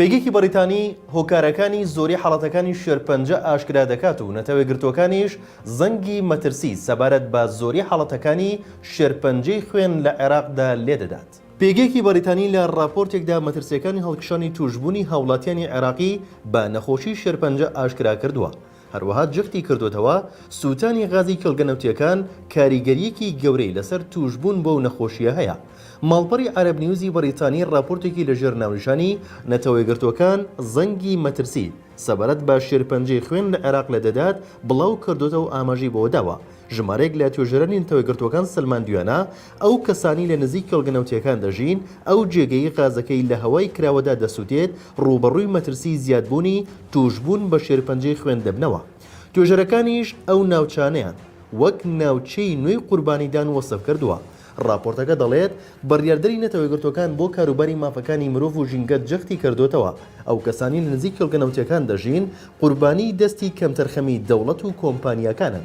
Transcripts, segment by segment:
پێگەیەکی بەڕیتانی هۆکارەکانی زۆری حاڵەتەکانی شێرپەنجە ئاشکرا دەکات و نەتەوەیەکگرتووەکانیش زەنگی مەترسی سەبارەت بە زۆری حاڵەتەکانی شێرپەنجەی خوێن لە عێراقدا لێدەدات. پێگەیەکی بەڕیتانی لە ڕاپۆرتێکدا مەترسییەکانی هەڵکشانی تووشبوونی هاوڵاتیانی عێراقی بە نەخۆشی شێرپەنجە ئاشکرا کردووە، هەروەها جەختی کردۆتەوە، سووتانی غازی کێڵگە نەوتییەکان کاریگەرییەکی گەورەی لەسەر تووشبوون بەو نەخۆشییە هەیە. ماڵپەڕی عەرەب نیوزی بەڕیتانی ڕاپۆرتێکی لەژێر ناونیشانی، نەتەوەیەکگرتووەکان زەنگی مەترسی سەبارەت بە شێرپەنجەی خوێن لە عێراق لە دەدات بڵاو کردۆتەوە و ئاماژەی بەوە داوە، ژمارەیەک لە توێژەرانی نەتەوەیەکگرتووەکان سەلماندویانە ئەو کەسانەی لە نزیک کێڵگە نەوتییەکان دەژین، ئەو جێگەی غازەکەی لە هەوای کراوەدا دەسووتێت، ڕووبەڕووی مەترسیی زیادبوونی تووشبوون بە شێرپەنجەی خوێن دەبنەوە. توێژەرەکانیش ئەو ناوچانەیان وەک ناوچەی نوێی قوربانیدان وەسف کردووە. ڕاپۆرتەکە دەڵێت، بڕیاردەری نەتەوە یەکگرتووەکان بۆ کاروباری مافەکانی مرۆڤ و ژینگە جەختی کردووەتەوە، ئەو کەسانەی لە نزیک کێڵگە نەوتییەکان دەژین، قوربانیی دەستی کەمتەرخەمی دەوڵەت و کۆمپانیاکانن.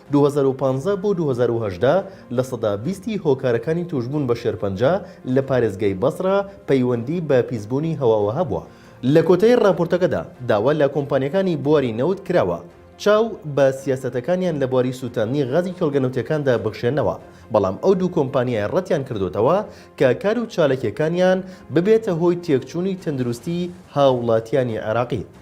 دوو هەزار و پازدە بۆ دوو هەزار و هەژدە لە سەدا بیستی هۆکارەکانی تووشبوون بە شێرپەنجە لە پارێزگای بەسڕە پەیوەندی بە پیسبوونی هەواوە هەبووە. لە کۆتایی ڕاپۆرتەکەدا داوا لە کۆمپانیاکانی بواری نەوت کراوە چاو بە سیاسەتەکانیان لە بواری سووتاندنی غازی کێڵگە نەوتییەکاندا بخشێنەوە، بەڵام ئەو دوو کۆمپانیایە ڕەتیان کردووەتەوە کە کار و چاالکییەکانیان ببێتە هۆی تێکچوونی تەندروستی هاوڵاتیانی عێراقی.